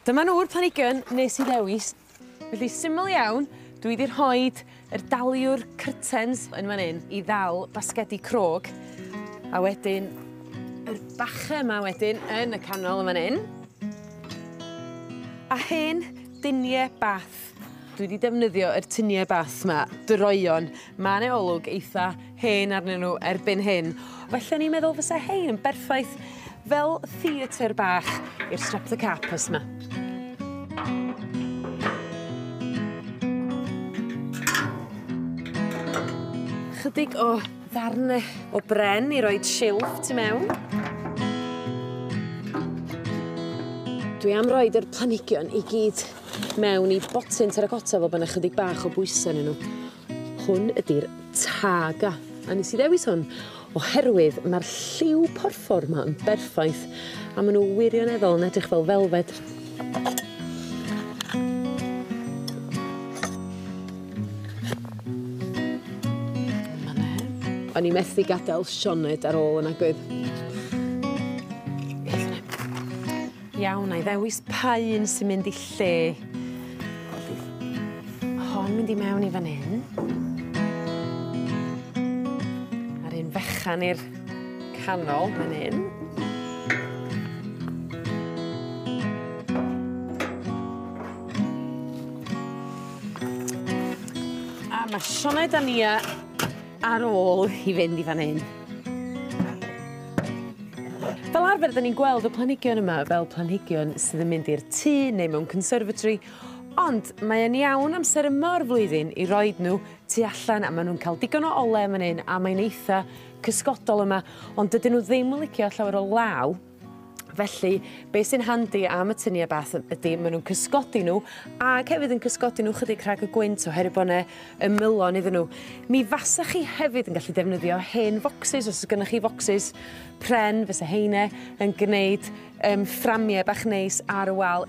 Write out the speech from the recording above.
Dyma nhw'r planhigion nes i ddewis. Felly syml iawn dwi 'di rhoid yr daliwr cyrtens yn fan 'yn i ddal basgedi crog a wedyn yr bache 'ma wedyn yn y canol yn fan 'yn a hen dynie bath. Dwi 'di defnyddio yr tunie bath 'ma droeon ma' 'ne olwg eitha hen arnyn n'w erbyn hyn felly o'n i'n meddwl fysa 'hein yn berffaith fel theatre bach i'r streptocarpus 'ma. Chydig o ddarne o bren i roid silff tu mewn. Dwi am roid yr planhigion i gyd mewn i botyn terracotta fel bo' 'na chydig bach o bwyse ynnyn nw. Hwn ydi'r Targa a nes i ddewis hwn oherwydd ma'r lliw porffor 'ma yn berffaith a ma' n'w wirioneddol yn edrych fel felfed. O'n i methu gadel Sioned ar ôl y magwyd. Beth bynnag. Iawn, na i ddewis pa un sy'n mynd i lle. Ma' hon mynd i mewn i fan 'yn. A'r un fechan i'r canol fan 'yn. A ma' Sioned a Nia Ar ôl i fynd i fan 'yn. Fel arfer 'dyn ni'n gweld y planhigion yma fel planhigion sydd yn mynd i'r tŷ neu mewn conservatory ond mae e'n iawn amser yma o'r flwyddyn i roid n'w tu allan a ma' nw'n ca'l digon o ole yn fan 'yn a mae'n eitha cysgodol yma ond dydyn n'w ddim yn licio llawer o law. Felly be' sy'n handi am y tunie bath yy ydi ma' nw'n cysgodi n'w ag hefyd yn cysgodi n'w chydig rhag y gwynt oherwydd bo' 'ne ymylon iddyn n'w. Mi fasach chi hefyd yn gallu defnyddio hen focsys os o's gynnoch chi focsys pren fysa heine yn gneud yym fframie bach neis ar y wal.